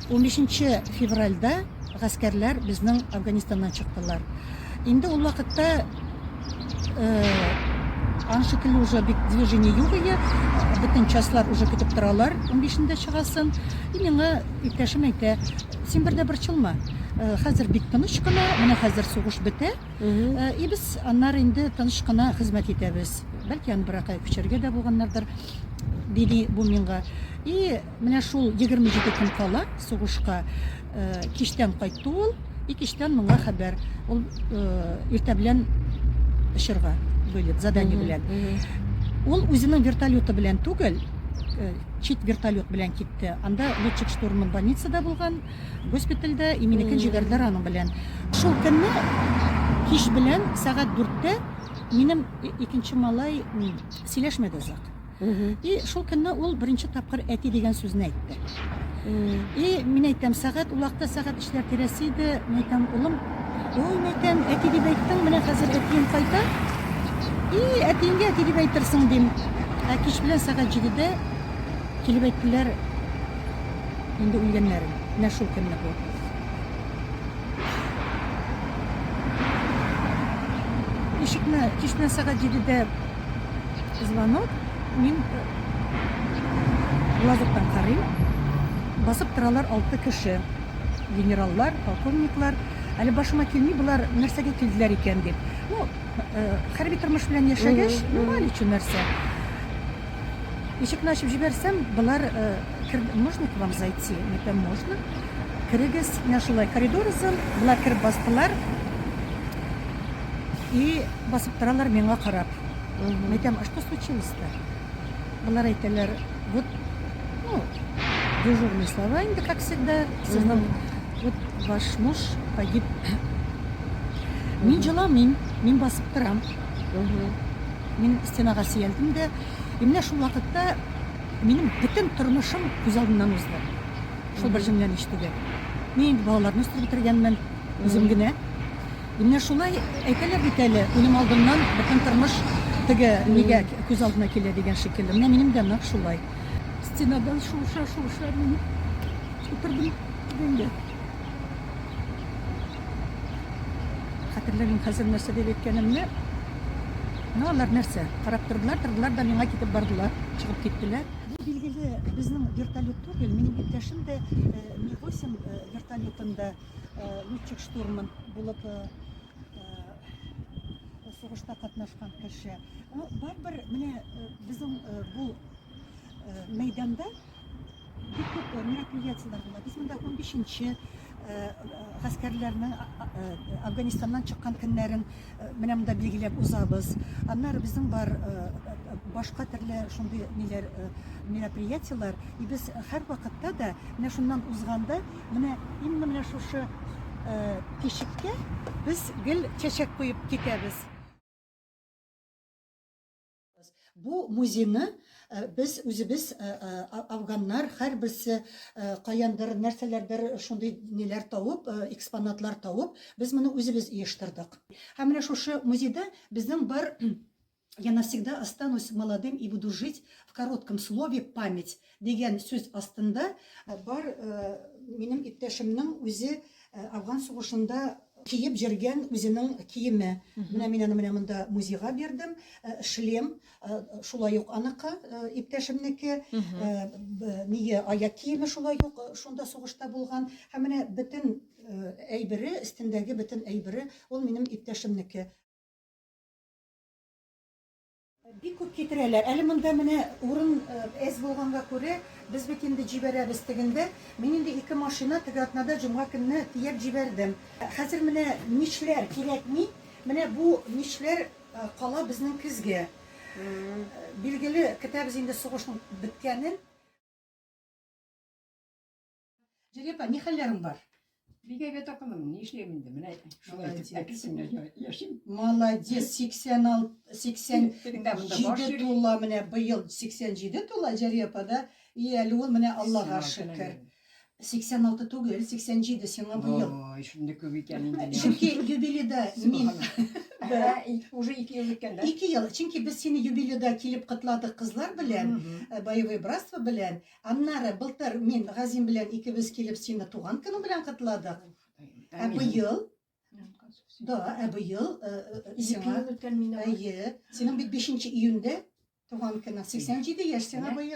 Унбишенче февральдә гаскәрләр безнең Афганистаннан чыктылар. Инде ул вакытта ан шикелле уже бик движение юк иде. Бөтен частьлар уже көтеп торалар, унбишендә чыгасын. И миңа иптәшем әйтә, син бер дә борчылма, хәзер бик тыныч кына, менә хәзер сугыш бетә, и без аннары инде тыныч кына хезмәт итәбез. Бәлки аны беракая күчерергә дә булганнардыр, диде бу миңа. И Менә шул 27 көн кала сугышка кичтән кайтты ул, и кичтән моңа хәбәр. Ул иртә белән очырга бүлеп, задание белән. Ул үзенең вертолеты белән түгел, чит вертолет белән китте. Анда летчик штурман больницада булган, госпитальдә, и минекен җибәрделәр аның белән. Шул көнне кич белән сәгать 4-тә минем икенче малай сөйләшмәде озак. Мгм. И шул көнне ул беренче тапкыр әти дигән сүзне әйтте. Мм. И мин әйтәм, сәгать ул вакытта сәгать эшләр тирәсе иде. Мин әйтәм, улым, ой, мин әйтәм, әти дип әйттең, менә хәзер әтиең кайта. И әтиеңгә әти дип әйтерсең, дим. Ә кич белән сәгать җидедә килеп әйттеләр инде үлгәннәрен. Менә шул көнне бу. Ишекне кич белән сәгать җидедә звонок, мин глазоктан карыйм, басып торалар алты кеше, генераллар, полковниклар, әле башыма килми болар нәрсәгә килделәр икән дип. Ну, э, хәрби тормыш белән яшәгәч, ну, әле чу нәрсә. Ишекне ачып җибәрсәм, болар э, кер... можно к вам зайти? Мин әйтәм, можно. Керегез, менә шулай коридор озын, болар кереп бастылар. И басып торалар миңа карап. Мгм. Мәйтәм, а что случилось-то? Болар әйтәләр, вот, ну, дежурные слова инде, как всегда, сезнең, Мгм. вот, ваш муж погиб. Мин җыламыйм, мин басып торам. Мгм. Мин стенага сөялдем дә, и менә шул вакытта минем бөтен тормышым күз алдымнан узды. Шул бер җөмләне ишетүгә. Мин инде балаларны үстереп бетергәнмен, үзем Мгм. генә. Менә шулай әйтәләр бит әле, үлем алдыннан бөтен тормыш теге нигә күз алдына килә дигән шикелле. Менә минем дә нәкъ шулай. Стенадан шуыша шуыша мин утырдым дигәндә. Хәтерләмим хәзер нәрсә дип әйткәнемне. Менә алар нәрсә? Карап тордылар, тордылар да миңа китеп бардылар, чыгып киттеләр. Бу билгеле безнең вертолет түгел, минем иптәшем дә Ми-8 вертолетында летчик штурман булып сугышта катнашкан кеше. Барыбер менә безнең бу мәйданда бик күп мероприятиеләр була. Без монда 15-нче гаскәрләрнең Афганистаннан чыккан көннәрен менә монда билгеләп узабыз. Аннары безнең бар башка төрле шундый ниләр мероприятиеләр. И без һәрвакытта да менә шуннан узганда Менә инде менә шушы тишеккә без гел чәчәк куеп китәбез. Бу музейны без үзебез афганнар һәрберсе каяндыр нәрсәләрдер шундый ниләр тавып, экспонатлар тавып, без моны үзебез оештырдык. Һәм менә шушы музейда безнең бар Я навсегда останусь молодым и буду жить в коротком слове память дигән сүз астында бар минем иптәшемнең үзе Афган сугышында киеп җөргән үзенең киеме. Менә мин аны менә монда музейга бирдем. Э, шлем э, шулай ук аныкы, э, иптәшемнеке. Нигә аяк киеме шулай ук шунда сугышта булган. Һәм менә бөтен әйбере, өстендәге бөтен әйбере ул минем иптәшемнеке. Бик күп китерәләр. Әле монда менә урын әз булганга күрә, без бит инде җибәрәбез тегендә. Мин инде ике машина теге атнада җомга көнне төяп җибәрдем. Хәзер менә мичләр кирәкми. Менә бу мичләр кала безнең көзгә. Билгеле, көтәбез инде сугышның беткәнен. Җәлил апа, ни хәлләрең бар? Бик әйбәт апалым, ни эшләйм инде, менә шулай итеп әкесенә яшим. Молодец, 86, 87 тула, менә быел 87 тула Җәлил апа да. И әле ул менә Аллага шөкер. 86 түгел, 87 сиңа быел. Ой, шундый күп икән инде. Чөнки юбилейда мин Да, уже 2 ел үткән, да? 2 ел. Чөнки без сине юбилейда килеп котладык кызлар белән, э, боевое братство белән. Аннары былтыр мин Газим белән икебез килеп сине туган көне белән котладык. Ә быел Да, ә быел э, э, э, сиңа үткән мине. Әйе, синең бит 5 июньдә туган көне 87 яшь сиңа быел.